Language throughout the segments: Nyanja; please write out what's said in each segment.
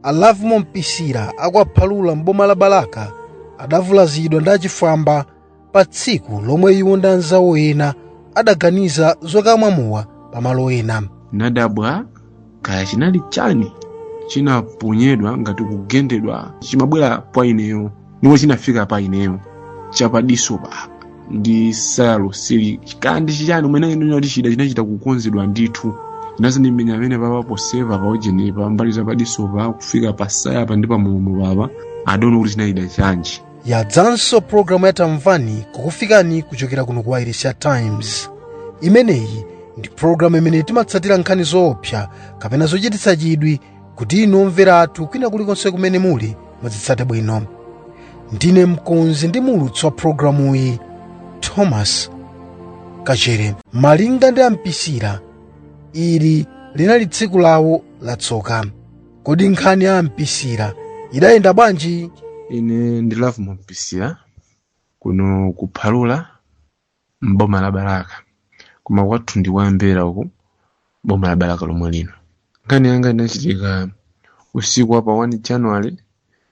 a lovemore mpisira a kwa phalula m'boma la balaka adavulazidwa ndi achifwamba pa tsiku lomwe iwo ndi anzawo ena adaganiza zokamwa mowa pamalo ena nadabwa kaya chinali chani chinaponyedwa ngati kugendedwa chimabwera kwa ineyo ndipo chinafika pa ineyo chapadiso papa ndi saya lonseli kaya ndi chichani umene ino kuti chida chinachita kukonzedwa ndithu chinazandimenya pamene papa ponsepa paujenipa mbali ya padisopa kufika pasayapa ndi pamulomo papa i don't know kuti chinali chida chanji yadzanso pologalamu ya tamvani kukufikani kuchokera kuno ku wailesi ya times imeneyi ndi pologalamu imene timatsatira nkhani zoopsa kapena zochititsa chidwi kuti inu omvera athu kwina kulikonse kumene muli muzitsate bwino ndine mkonzi ndi muulutsi wa pologalamuyi thomas kachere malinga ndi a mpisira ili linali tsiku lawo latsoka kodi nkhani ya mpisira idayenda bwanji ine ndi lovemore mpisira kuno ku phalula mboma la balaka koma kwathu ndi kwa mbera uku mboma la balaka lomwe lino nkhani yanga inachitika usiku wa pa 1 january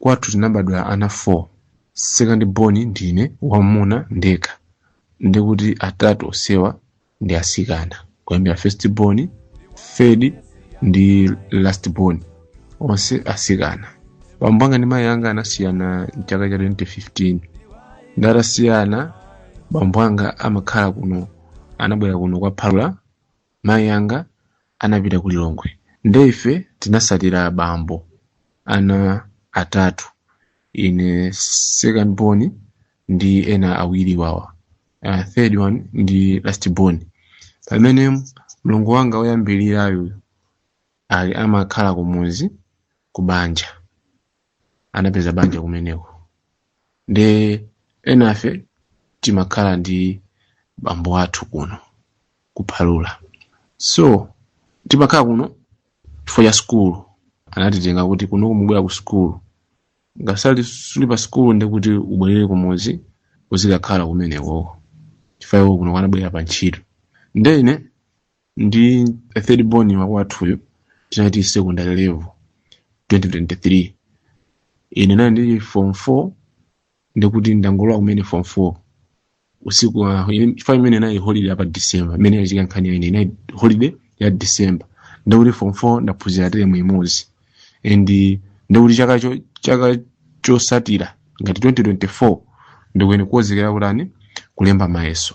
Kwathu tinabadwa ana 4, sekandi boni ndine, wammuna ndekha, ndi kuti atatu onsewa ndi atsikana, kuyambira fesiti boni, third ndi lasiti boni, onse atsikana. Bambo anga ndi mayi anga anasiyana m'chaka cha 2015. Nde atasiyana, bambo anga amakhala kuno, anabwera kuno kwa Phalula mayi anga anapita ku lilongwe nde ife tinasatira abambo ana atatu ine second born ndi ena awiriwawa uh, third one ndi last born pamene mlongo wanga woyambirirayo ali amakhala kumuzi kubanja anapeza banja kumeneko nde enafe timakhala ndi bambo athu kuno ku phalula so timakhala kuno chifukwa cha sukulu anatitenga kuti kuno kumubwera ku sukulu ngasali suli pa sukulu ndi kuti ubwerere kumudzi uzikakhala kumenekoko chifukwa iwo kunoko anabwera pa ntchito nde ine ndi third born wa kwathuyo tinali secondary level 2023 ine nkuti ndili form 4 ndikuti ndangolowa kumene form 4 usiku wa ine- chifukwa imene nayi holiday apa december imene yachika nkhani yaine inayi holiday ya december ndakuti form 4 ndaphunzira teremu imodzi and ndakuti chaka cho- chaka chosatira ngati 2024 ndikuyenera kukonzekera kutani kulemba mayeso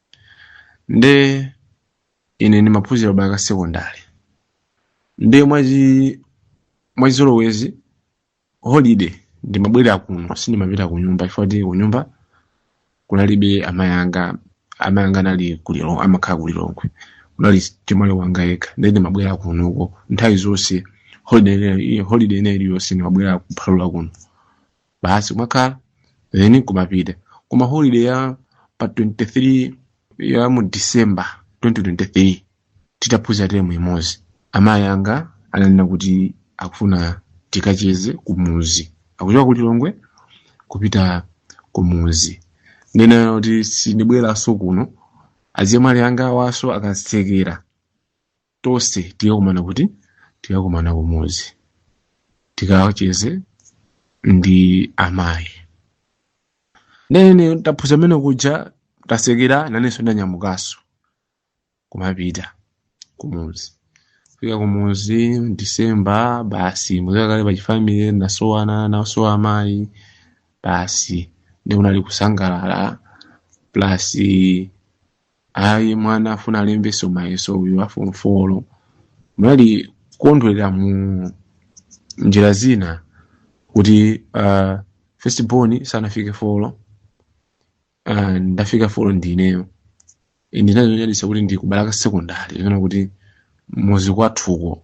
nde ine ndimaphunzira pa sekondari nde mwachi mwachizolowezi holiday ndimabwera kuno sindimapita ku nyumba chifukwa kuti ku nyumba kunalibe amayi anga amayi anga anali ku lilongwe amakhala ku lilongwe kunali achemwali wanga yekha nde ndimabwera kunoko nthawi zonse holiday ina- holiday ina iliyonse ndimabwera ku phalula kuno basi kumakhala then kumapita koma holiday ya 2023 ya mu december 2023 titaphunzira teremu imodzi amayi anga ananena kuti akufuna tikacheze kumuzi akuchoka ku lilongwe kupita kumuzi ndinena kuti sindibweranso kuno azichemwali anga awanso akatsekera tonse tikakumana kuti tikakumana kumudzi tikacheze ndi amayi nde ine taphunzira mmene kuja tatsekera nanenso ndanyamukanso kumapita kumuzi fika kumuzi disemba basi mudziwa kale pachifamile tasowana ndasowa amayi basi nde kunali kusangalala basi ayi mwana afuna alembe mayeso uyu a form four anali kukondwerera mu njira zina kuti uh, first born sanafike folo uh, ndafika folo ndineyo zinali zonyaditsa kuti ndikupita ku secondary kapena kuti mudzi kwathuko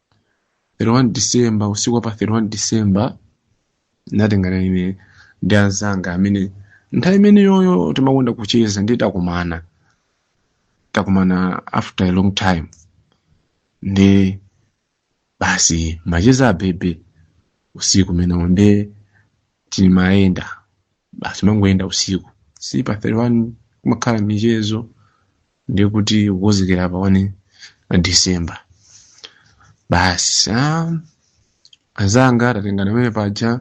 31 December usiku wa pa 31 December ndinatengana ine ndi anzanga amene nthawi imeneyoyo timakonda kucheza nde takumana takumana after a long time nde basi macheza abeba usiku umenewo nde timayenda basi kumangoyenda usiku si pa 31 kumakhala michezo ndiye kuti kukonzekera pa 1 december basi ah, azanga tatengana pamene paja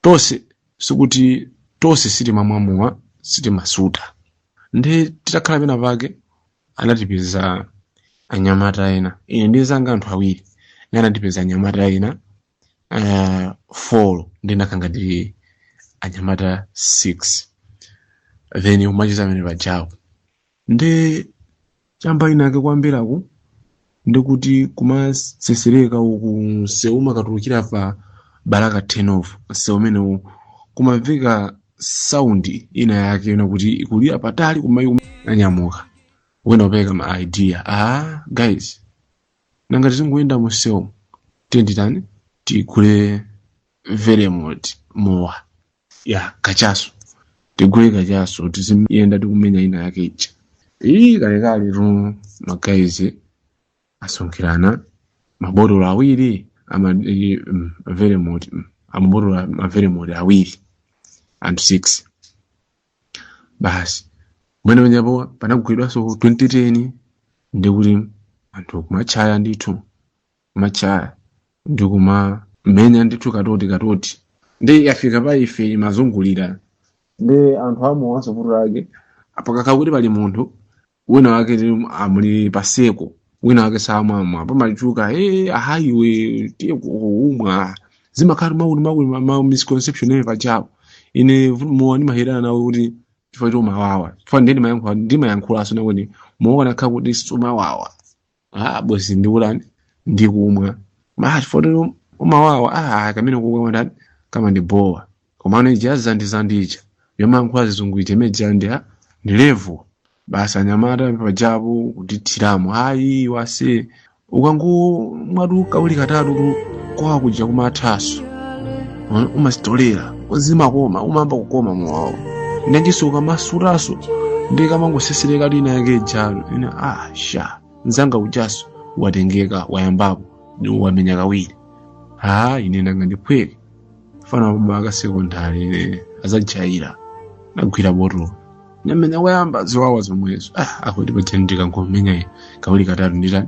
tonse sikuti tonse sitimamwa mowa sitimasuta nde titakhala pena pake anatipeza anyamata ena ine ndi nzanga anthu awiri nde anatipeza anyamata ena uh, four ndiye tinakhala ngati anyamata six then timacheza amene pajawo ndi chamba inake kumvera uko ndikuti kumasesereka uku msewu umakatulukira pa Balaka turn off msewu umenewu kumamveka saundi ina yake ina kuti ikulira patali kuyamba kunyamuka wina upeka ma idea ah guys nanga tizingoyenda musewu tiyeni titani tigule veremont mowa wa kachaso tigule kachaso tiziyenda tikumenya ina yake ija iyi kalekale tu magaizi asonkhirana mabotolo awiri ama iyi, mm, veremont mm, amabotolo a- maveremont awiri anthu 6 basi amene penapo panagulidwanso toti ndikuti anthu kumatchaya ndithu kumatchaya ndi kumamenya ndithu katoti katoti ndiye yafika pa ife imazungulira ndiye anthu amwanso vuto lake pakakhala kuti pali munthu wina wake ndi a m'gulu paseko wina wake samamwa pamachuka eti ah iwe tiye ukumwa zimakhala makuti makuti ma- ma misconception amene pajawo ine vu- mowa ndimadana nawo kuti chifukwa choti umawawa chifukwa ndiye ndimayankhula ndimayankhulaso nakuti mowa ukanakhala kuti sumawawa ah bwezi ndikutani ndikumwa ma chifukwa choti umawawa ah kumene ukumwa ndani kamandibowa komano ija yazandi yazanditchaya yomankhula zizungu ija imene ija ndi ha ndi level basi anyamata pajapo kutithiramo ayi aise ukangomwatu kawiri katatu tu kuwawa kuja kumathaso umazitolera zimakoma umayamba kukoma mowawo ndiyenso ukamasutaso ndikamangosesereka lina yake jalo ine ah sha mzanga ujaso watengeka wayambapo wamenya kawiri ha ine ndanga ndiphweke fana wapaka sekondari ine asandijaire nagwira botolo namenya koyamba zowawa zomwezo ah akuti paja ndikangomenya kawiri katatu nditani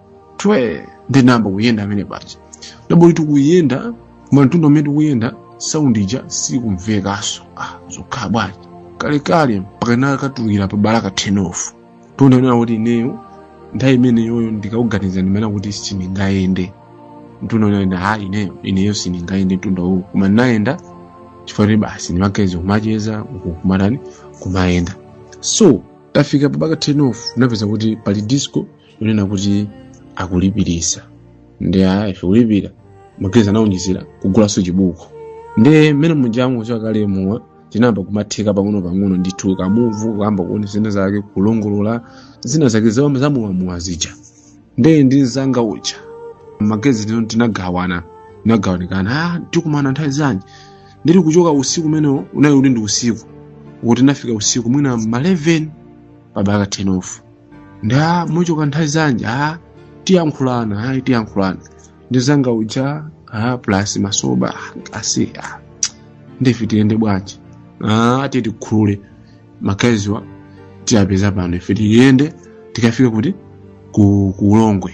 twe ndinayamba kuyenda amene paja ndabho tikuyenda koma mtunda umene tikuyenda saundi ija sikumvekanso ah zokhala bwanji kalekale mpaka tinakatulukira pa Balaka turn off to the kunena kuti ineyo nthawi imeneyoyo ndikaganiza ndimanena kuti sindingayende mtunda tinayenda ha ineyo ineyo sindingayende mtunda uwu koma ndinayenda chifukwa kuti basi ndi magaizi kumacheza uku kumatani kumayenda so tafika pa Balaka turn off tinapeza kuti pali disco kunena kuti akulipirisa ndiye ife kulipira magezi tinaonjezera kugulanso chibuku ndi mmene munjango chakale mowa tinayamba kumatheka pang'ono pang'ono ndithu kumva kuyamba kuona zina zake kulongolola zina zake za- zamowamowa zija ndi ndi mzanga uja magezi tino tinagawana tinagawanikana ah tikumana nthawi zanji ndili kuchoka usiku umenewo unali uli ndi usiku kuti tinafika usiku mwina ma 11 kapena 10 off ndiye muchoka nthawi zanji a tiyankhulana ayi tiyankhulana ndi mzanga uja a plus masoba basi ndiye ife tiyende bwanji a titikhula mageziwa tiwapeza pano ife tiyende tikafike kuti ku ku ulongwe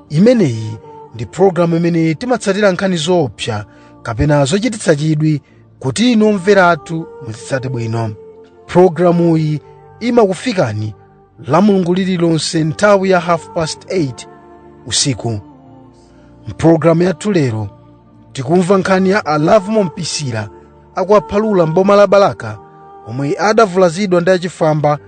imeneyi ndi pologalamu imene timatsatira nkhani zoopsa kapena zochititsa chidwi kuti inu omvera athu muzitsate bwino pologalamuyi imakufikani la mulungu lililonse nthawi ya half past 8 usiku mpologalamu yathu lero tikumva nkhani ya alavu mombisira a ku Phalula mboma la balaka omwe adavulazidwa ndi achifwamba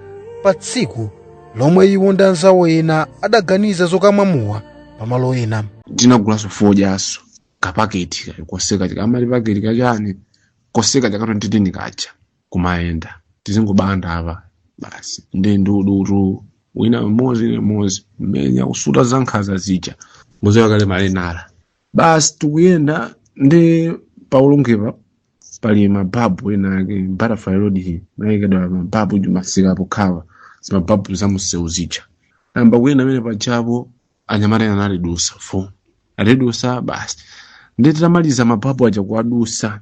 pa tsiku lomwe iwo ndi anzawo ena adaganiza zokamwa mowa pamalo ena tinagulaso fodyaso kapaketi kayo koseka kaja kamati paketi kachani koseka kaja ka 2 ndi tini kaja kumayenda tizingobanda apa basi ndi ndudu 2 wina mmodzi ine mmodzi mmenya kusuta za nkhaza zija muziwa kale m'mene zili basi tikuyenda ndi pa Ulongwepa pali mababu ena ake butterfly road iyi anaikidwa mababu kumsikako kaya zimababu za msewu zija nayamba kuyenda pamene pajapo anyamata ena anatidusa fo atidusa basi ndi titamaliza mababu aja kuwadusa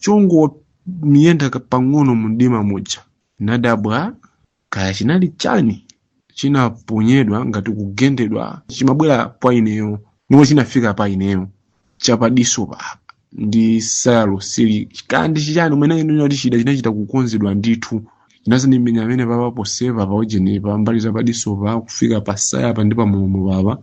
chongomayenda pang'ono mumdima muja nadabwa kaya chinali chani chinaponyedwa ngati kugendedwa chimabwera kwa ineyo ndipo chinafika pa ineyo chapadiso papa ndi sizozindikirika ndi chichani m'mene inu yoti chida chinachita kukonzedwa ndithu chinadzandimenya pamene papa kuseva pa ujeni pa mbali za padiso pa kufika pa tsayapa ndi pa mlomo papa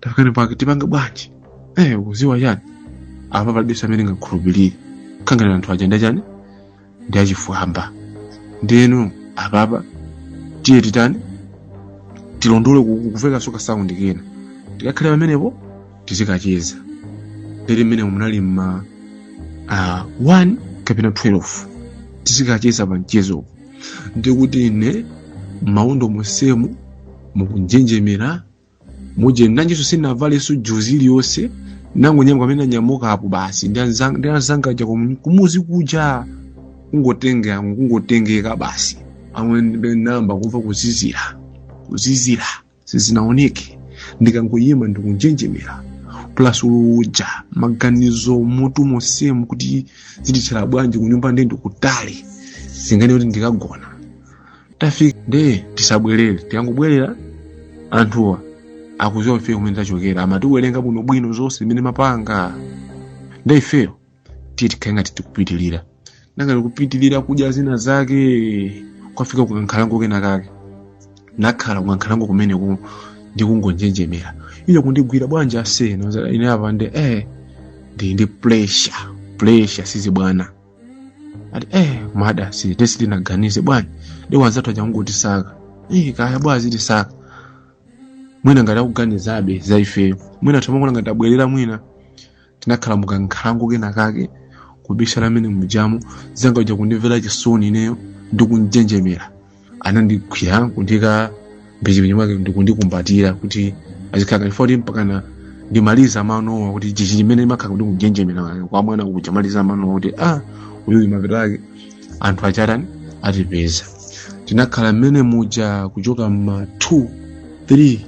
tadzuka apa ndiye tipange bwanji eh ukuziwa chani apa palibenso amene ngakhulupirire kapena anthu aja ndi chani ndi achifwamba ndeno apapa tiye titani tilondole kukumvekako ka sound kena tikakhale pamenepo tizikacheza ndiye mmene munali mma uh, 1 kapena 12 tizikacheza pa mchezo ndikuti ine maondo monsemu mukunjenjemera muja nanjinso sinavalenso juzi iliyonse ndangonyamuka mmene ndanyamuka apo basi ndi anzanga ndi anzanga aja kumu- kumuzi kuja kungotengeka kungotengeka basi amwene ndinayamba kumva kuzizira kuzizira sizinaoneke ndikangoyima ndikunjenjemera plus uja maganizo mmutu monsemu kuti zitithera bwanji kunyumba nde ndikutali zingani kuti ndikagona tafika nde tisabwerere tikangobwerera anthuwa akudziwa ifeyo kumene tachokera amatiwerenga bwinobwino zonse zimene timapanga nde ifeyo tiye tikhale ngati tikupitirira ngati tikupita kukadya zina zake tafika kukankhalango kena kake nakhala kukankhalango kumeneko ndikungonjenjemera iyo kundigwira bwanji aseno ine apa ndi eh ndi ndi pressure pressure sizibwana ati eh mada si tesi tinaganize bwana ndi wanzathu akungotisaka eh kaya bwana zitisaka mwina ngati akuganizabe za ifeyo mwina atangoona ngati tabwerera mwina tinakhala mukankhalango kena kake kubisala mmene mujamo mzanga uja kundimvera chisoni ineyo ndi kunjenjemera anandigwira kundiika mphechipinyi mwake ndikundikumbatira kuti ah zikhala kachifoti mpakana ndimaliza manowa kuti chichi chimene ndimakhala kuti kunjenjemera wake kwa mwana uja maliza manowa kuti a uyuyu mapeto ake anthu achatani atipeza tinakhala mmene muja kuchoka ma 2 3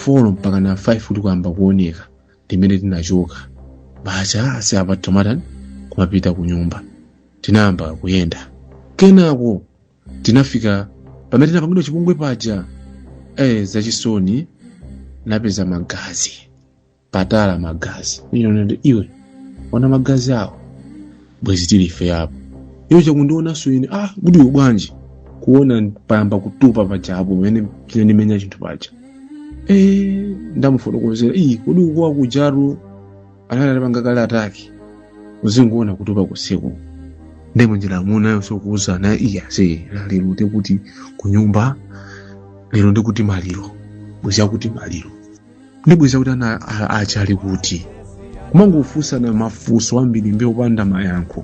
4 mpaka na 5 kutayamba kuoneka ndimene tinachoka basi ase apa tizitani kumapita ku nyumba tinayamba kuyenda kenako tinafika pamene tinapangidwa chipongwe paja eh zachisoni tinapeza magazi patatayika magazi iyo nde iwe ona magazi awo bwezi tili ife apo iye akundionanso ine ah kuti iwe bwanji kuona payamba kutupa paja apo pamene chinandimenya chinthu paja eh ndamufotokozera ii kodi ukukuwa kuja anali atapanga kale attack uzingoona kutupa usiku ndi munjira amunayo tikuuzana iya ase lero ndi kuti kunyumba lero ndi kuti maliro bwezi kuti maliro ndi bwezi kuti ana a- achali kuti kumangofunsana mafunso ambirimbiri opanda mayankho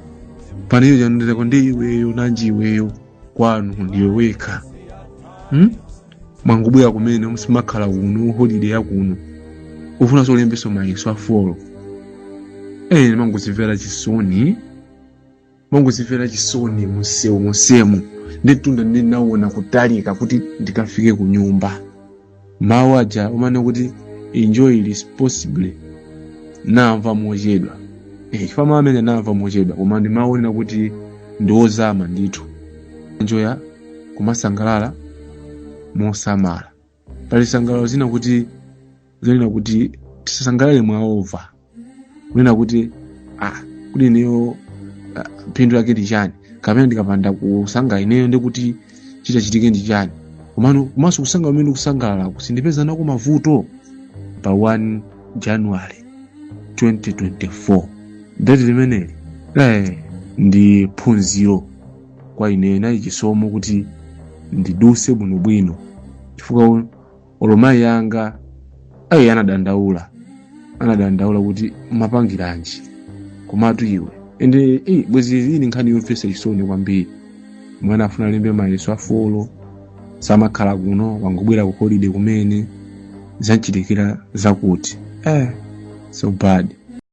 pamene iyo ikundiuza kuti ndi iweyo nanji iweyo kwanu ndiwe wekha hmm? mwangobwera kumene simumakhala kuno holiday yakuno ufunanso ulembenso mayeso a form 4 ine kumangozimvera chisoni mangozimvera chisoni mumsewu monsemu nditunda ndinawona kutalika kuti ndikafike ku nyumba mawu aja amanena kuti enjoy responsibly namva mochedwa eh, chifukwa mawu amenewo namva mochedwa koma ndi mawu onena kuti ndiwozama ndithu enjoy kumasangalala mosamala pali zisangalalo zina kuti zonena kuti tisasangalale mwaova kunena kuti ah, kuti ineyo ah, phindu lake ndi chani kapena ndikapanda kusanga ineyo ndikuti chichitike ndi chani komano komanso kusangalala komwe ndikusangalala kusandipeza nako mavuto pa 1 january 2024 deti limeneli eh, ndi phunziro kwa ine chinali chisomo kuti ndiduse bwinobwino chifukwa olo mayi anga ayi anadandaula anadandaula kuti umapangiranji komatu iwe ende eh, bwezi iyi ndi nkhani yomvetsa chisoni kwambiri mwana akufuna alembe mayeso a form 4 samakhala kuno wangobwera ku holiday kumene zamuchitikira zakuti eh, so bad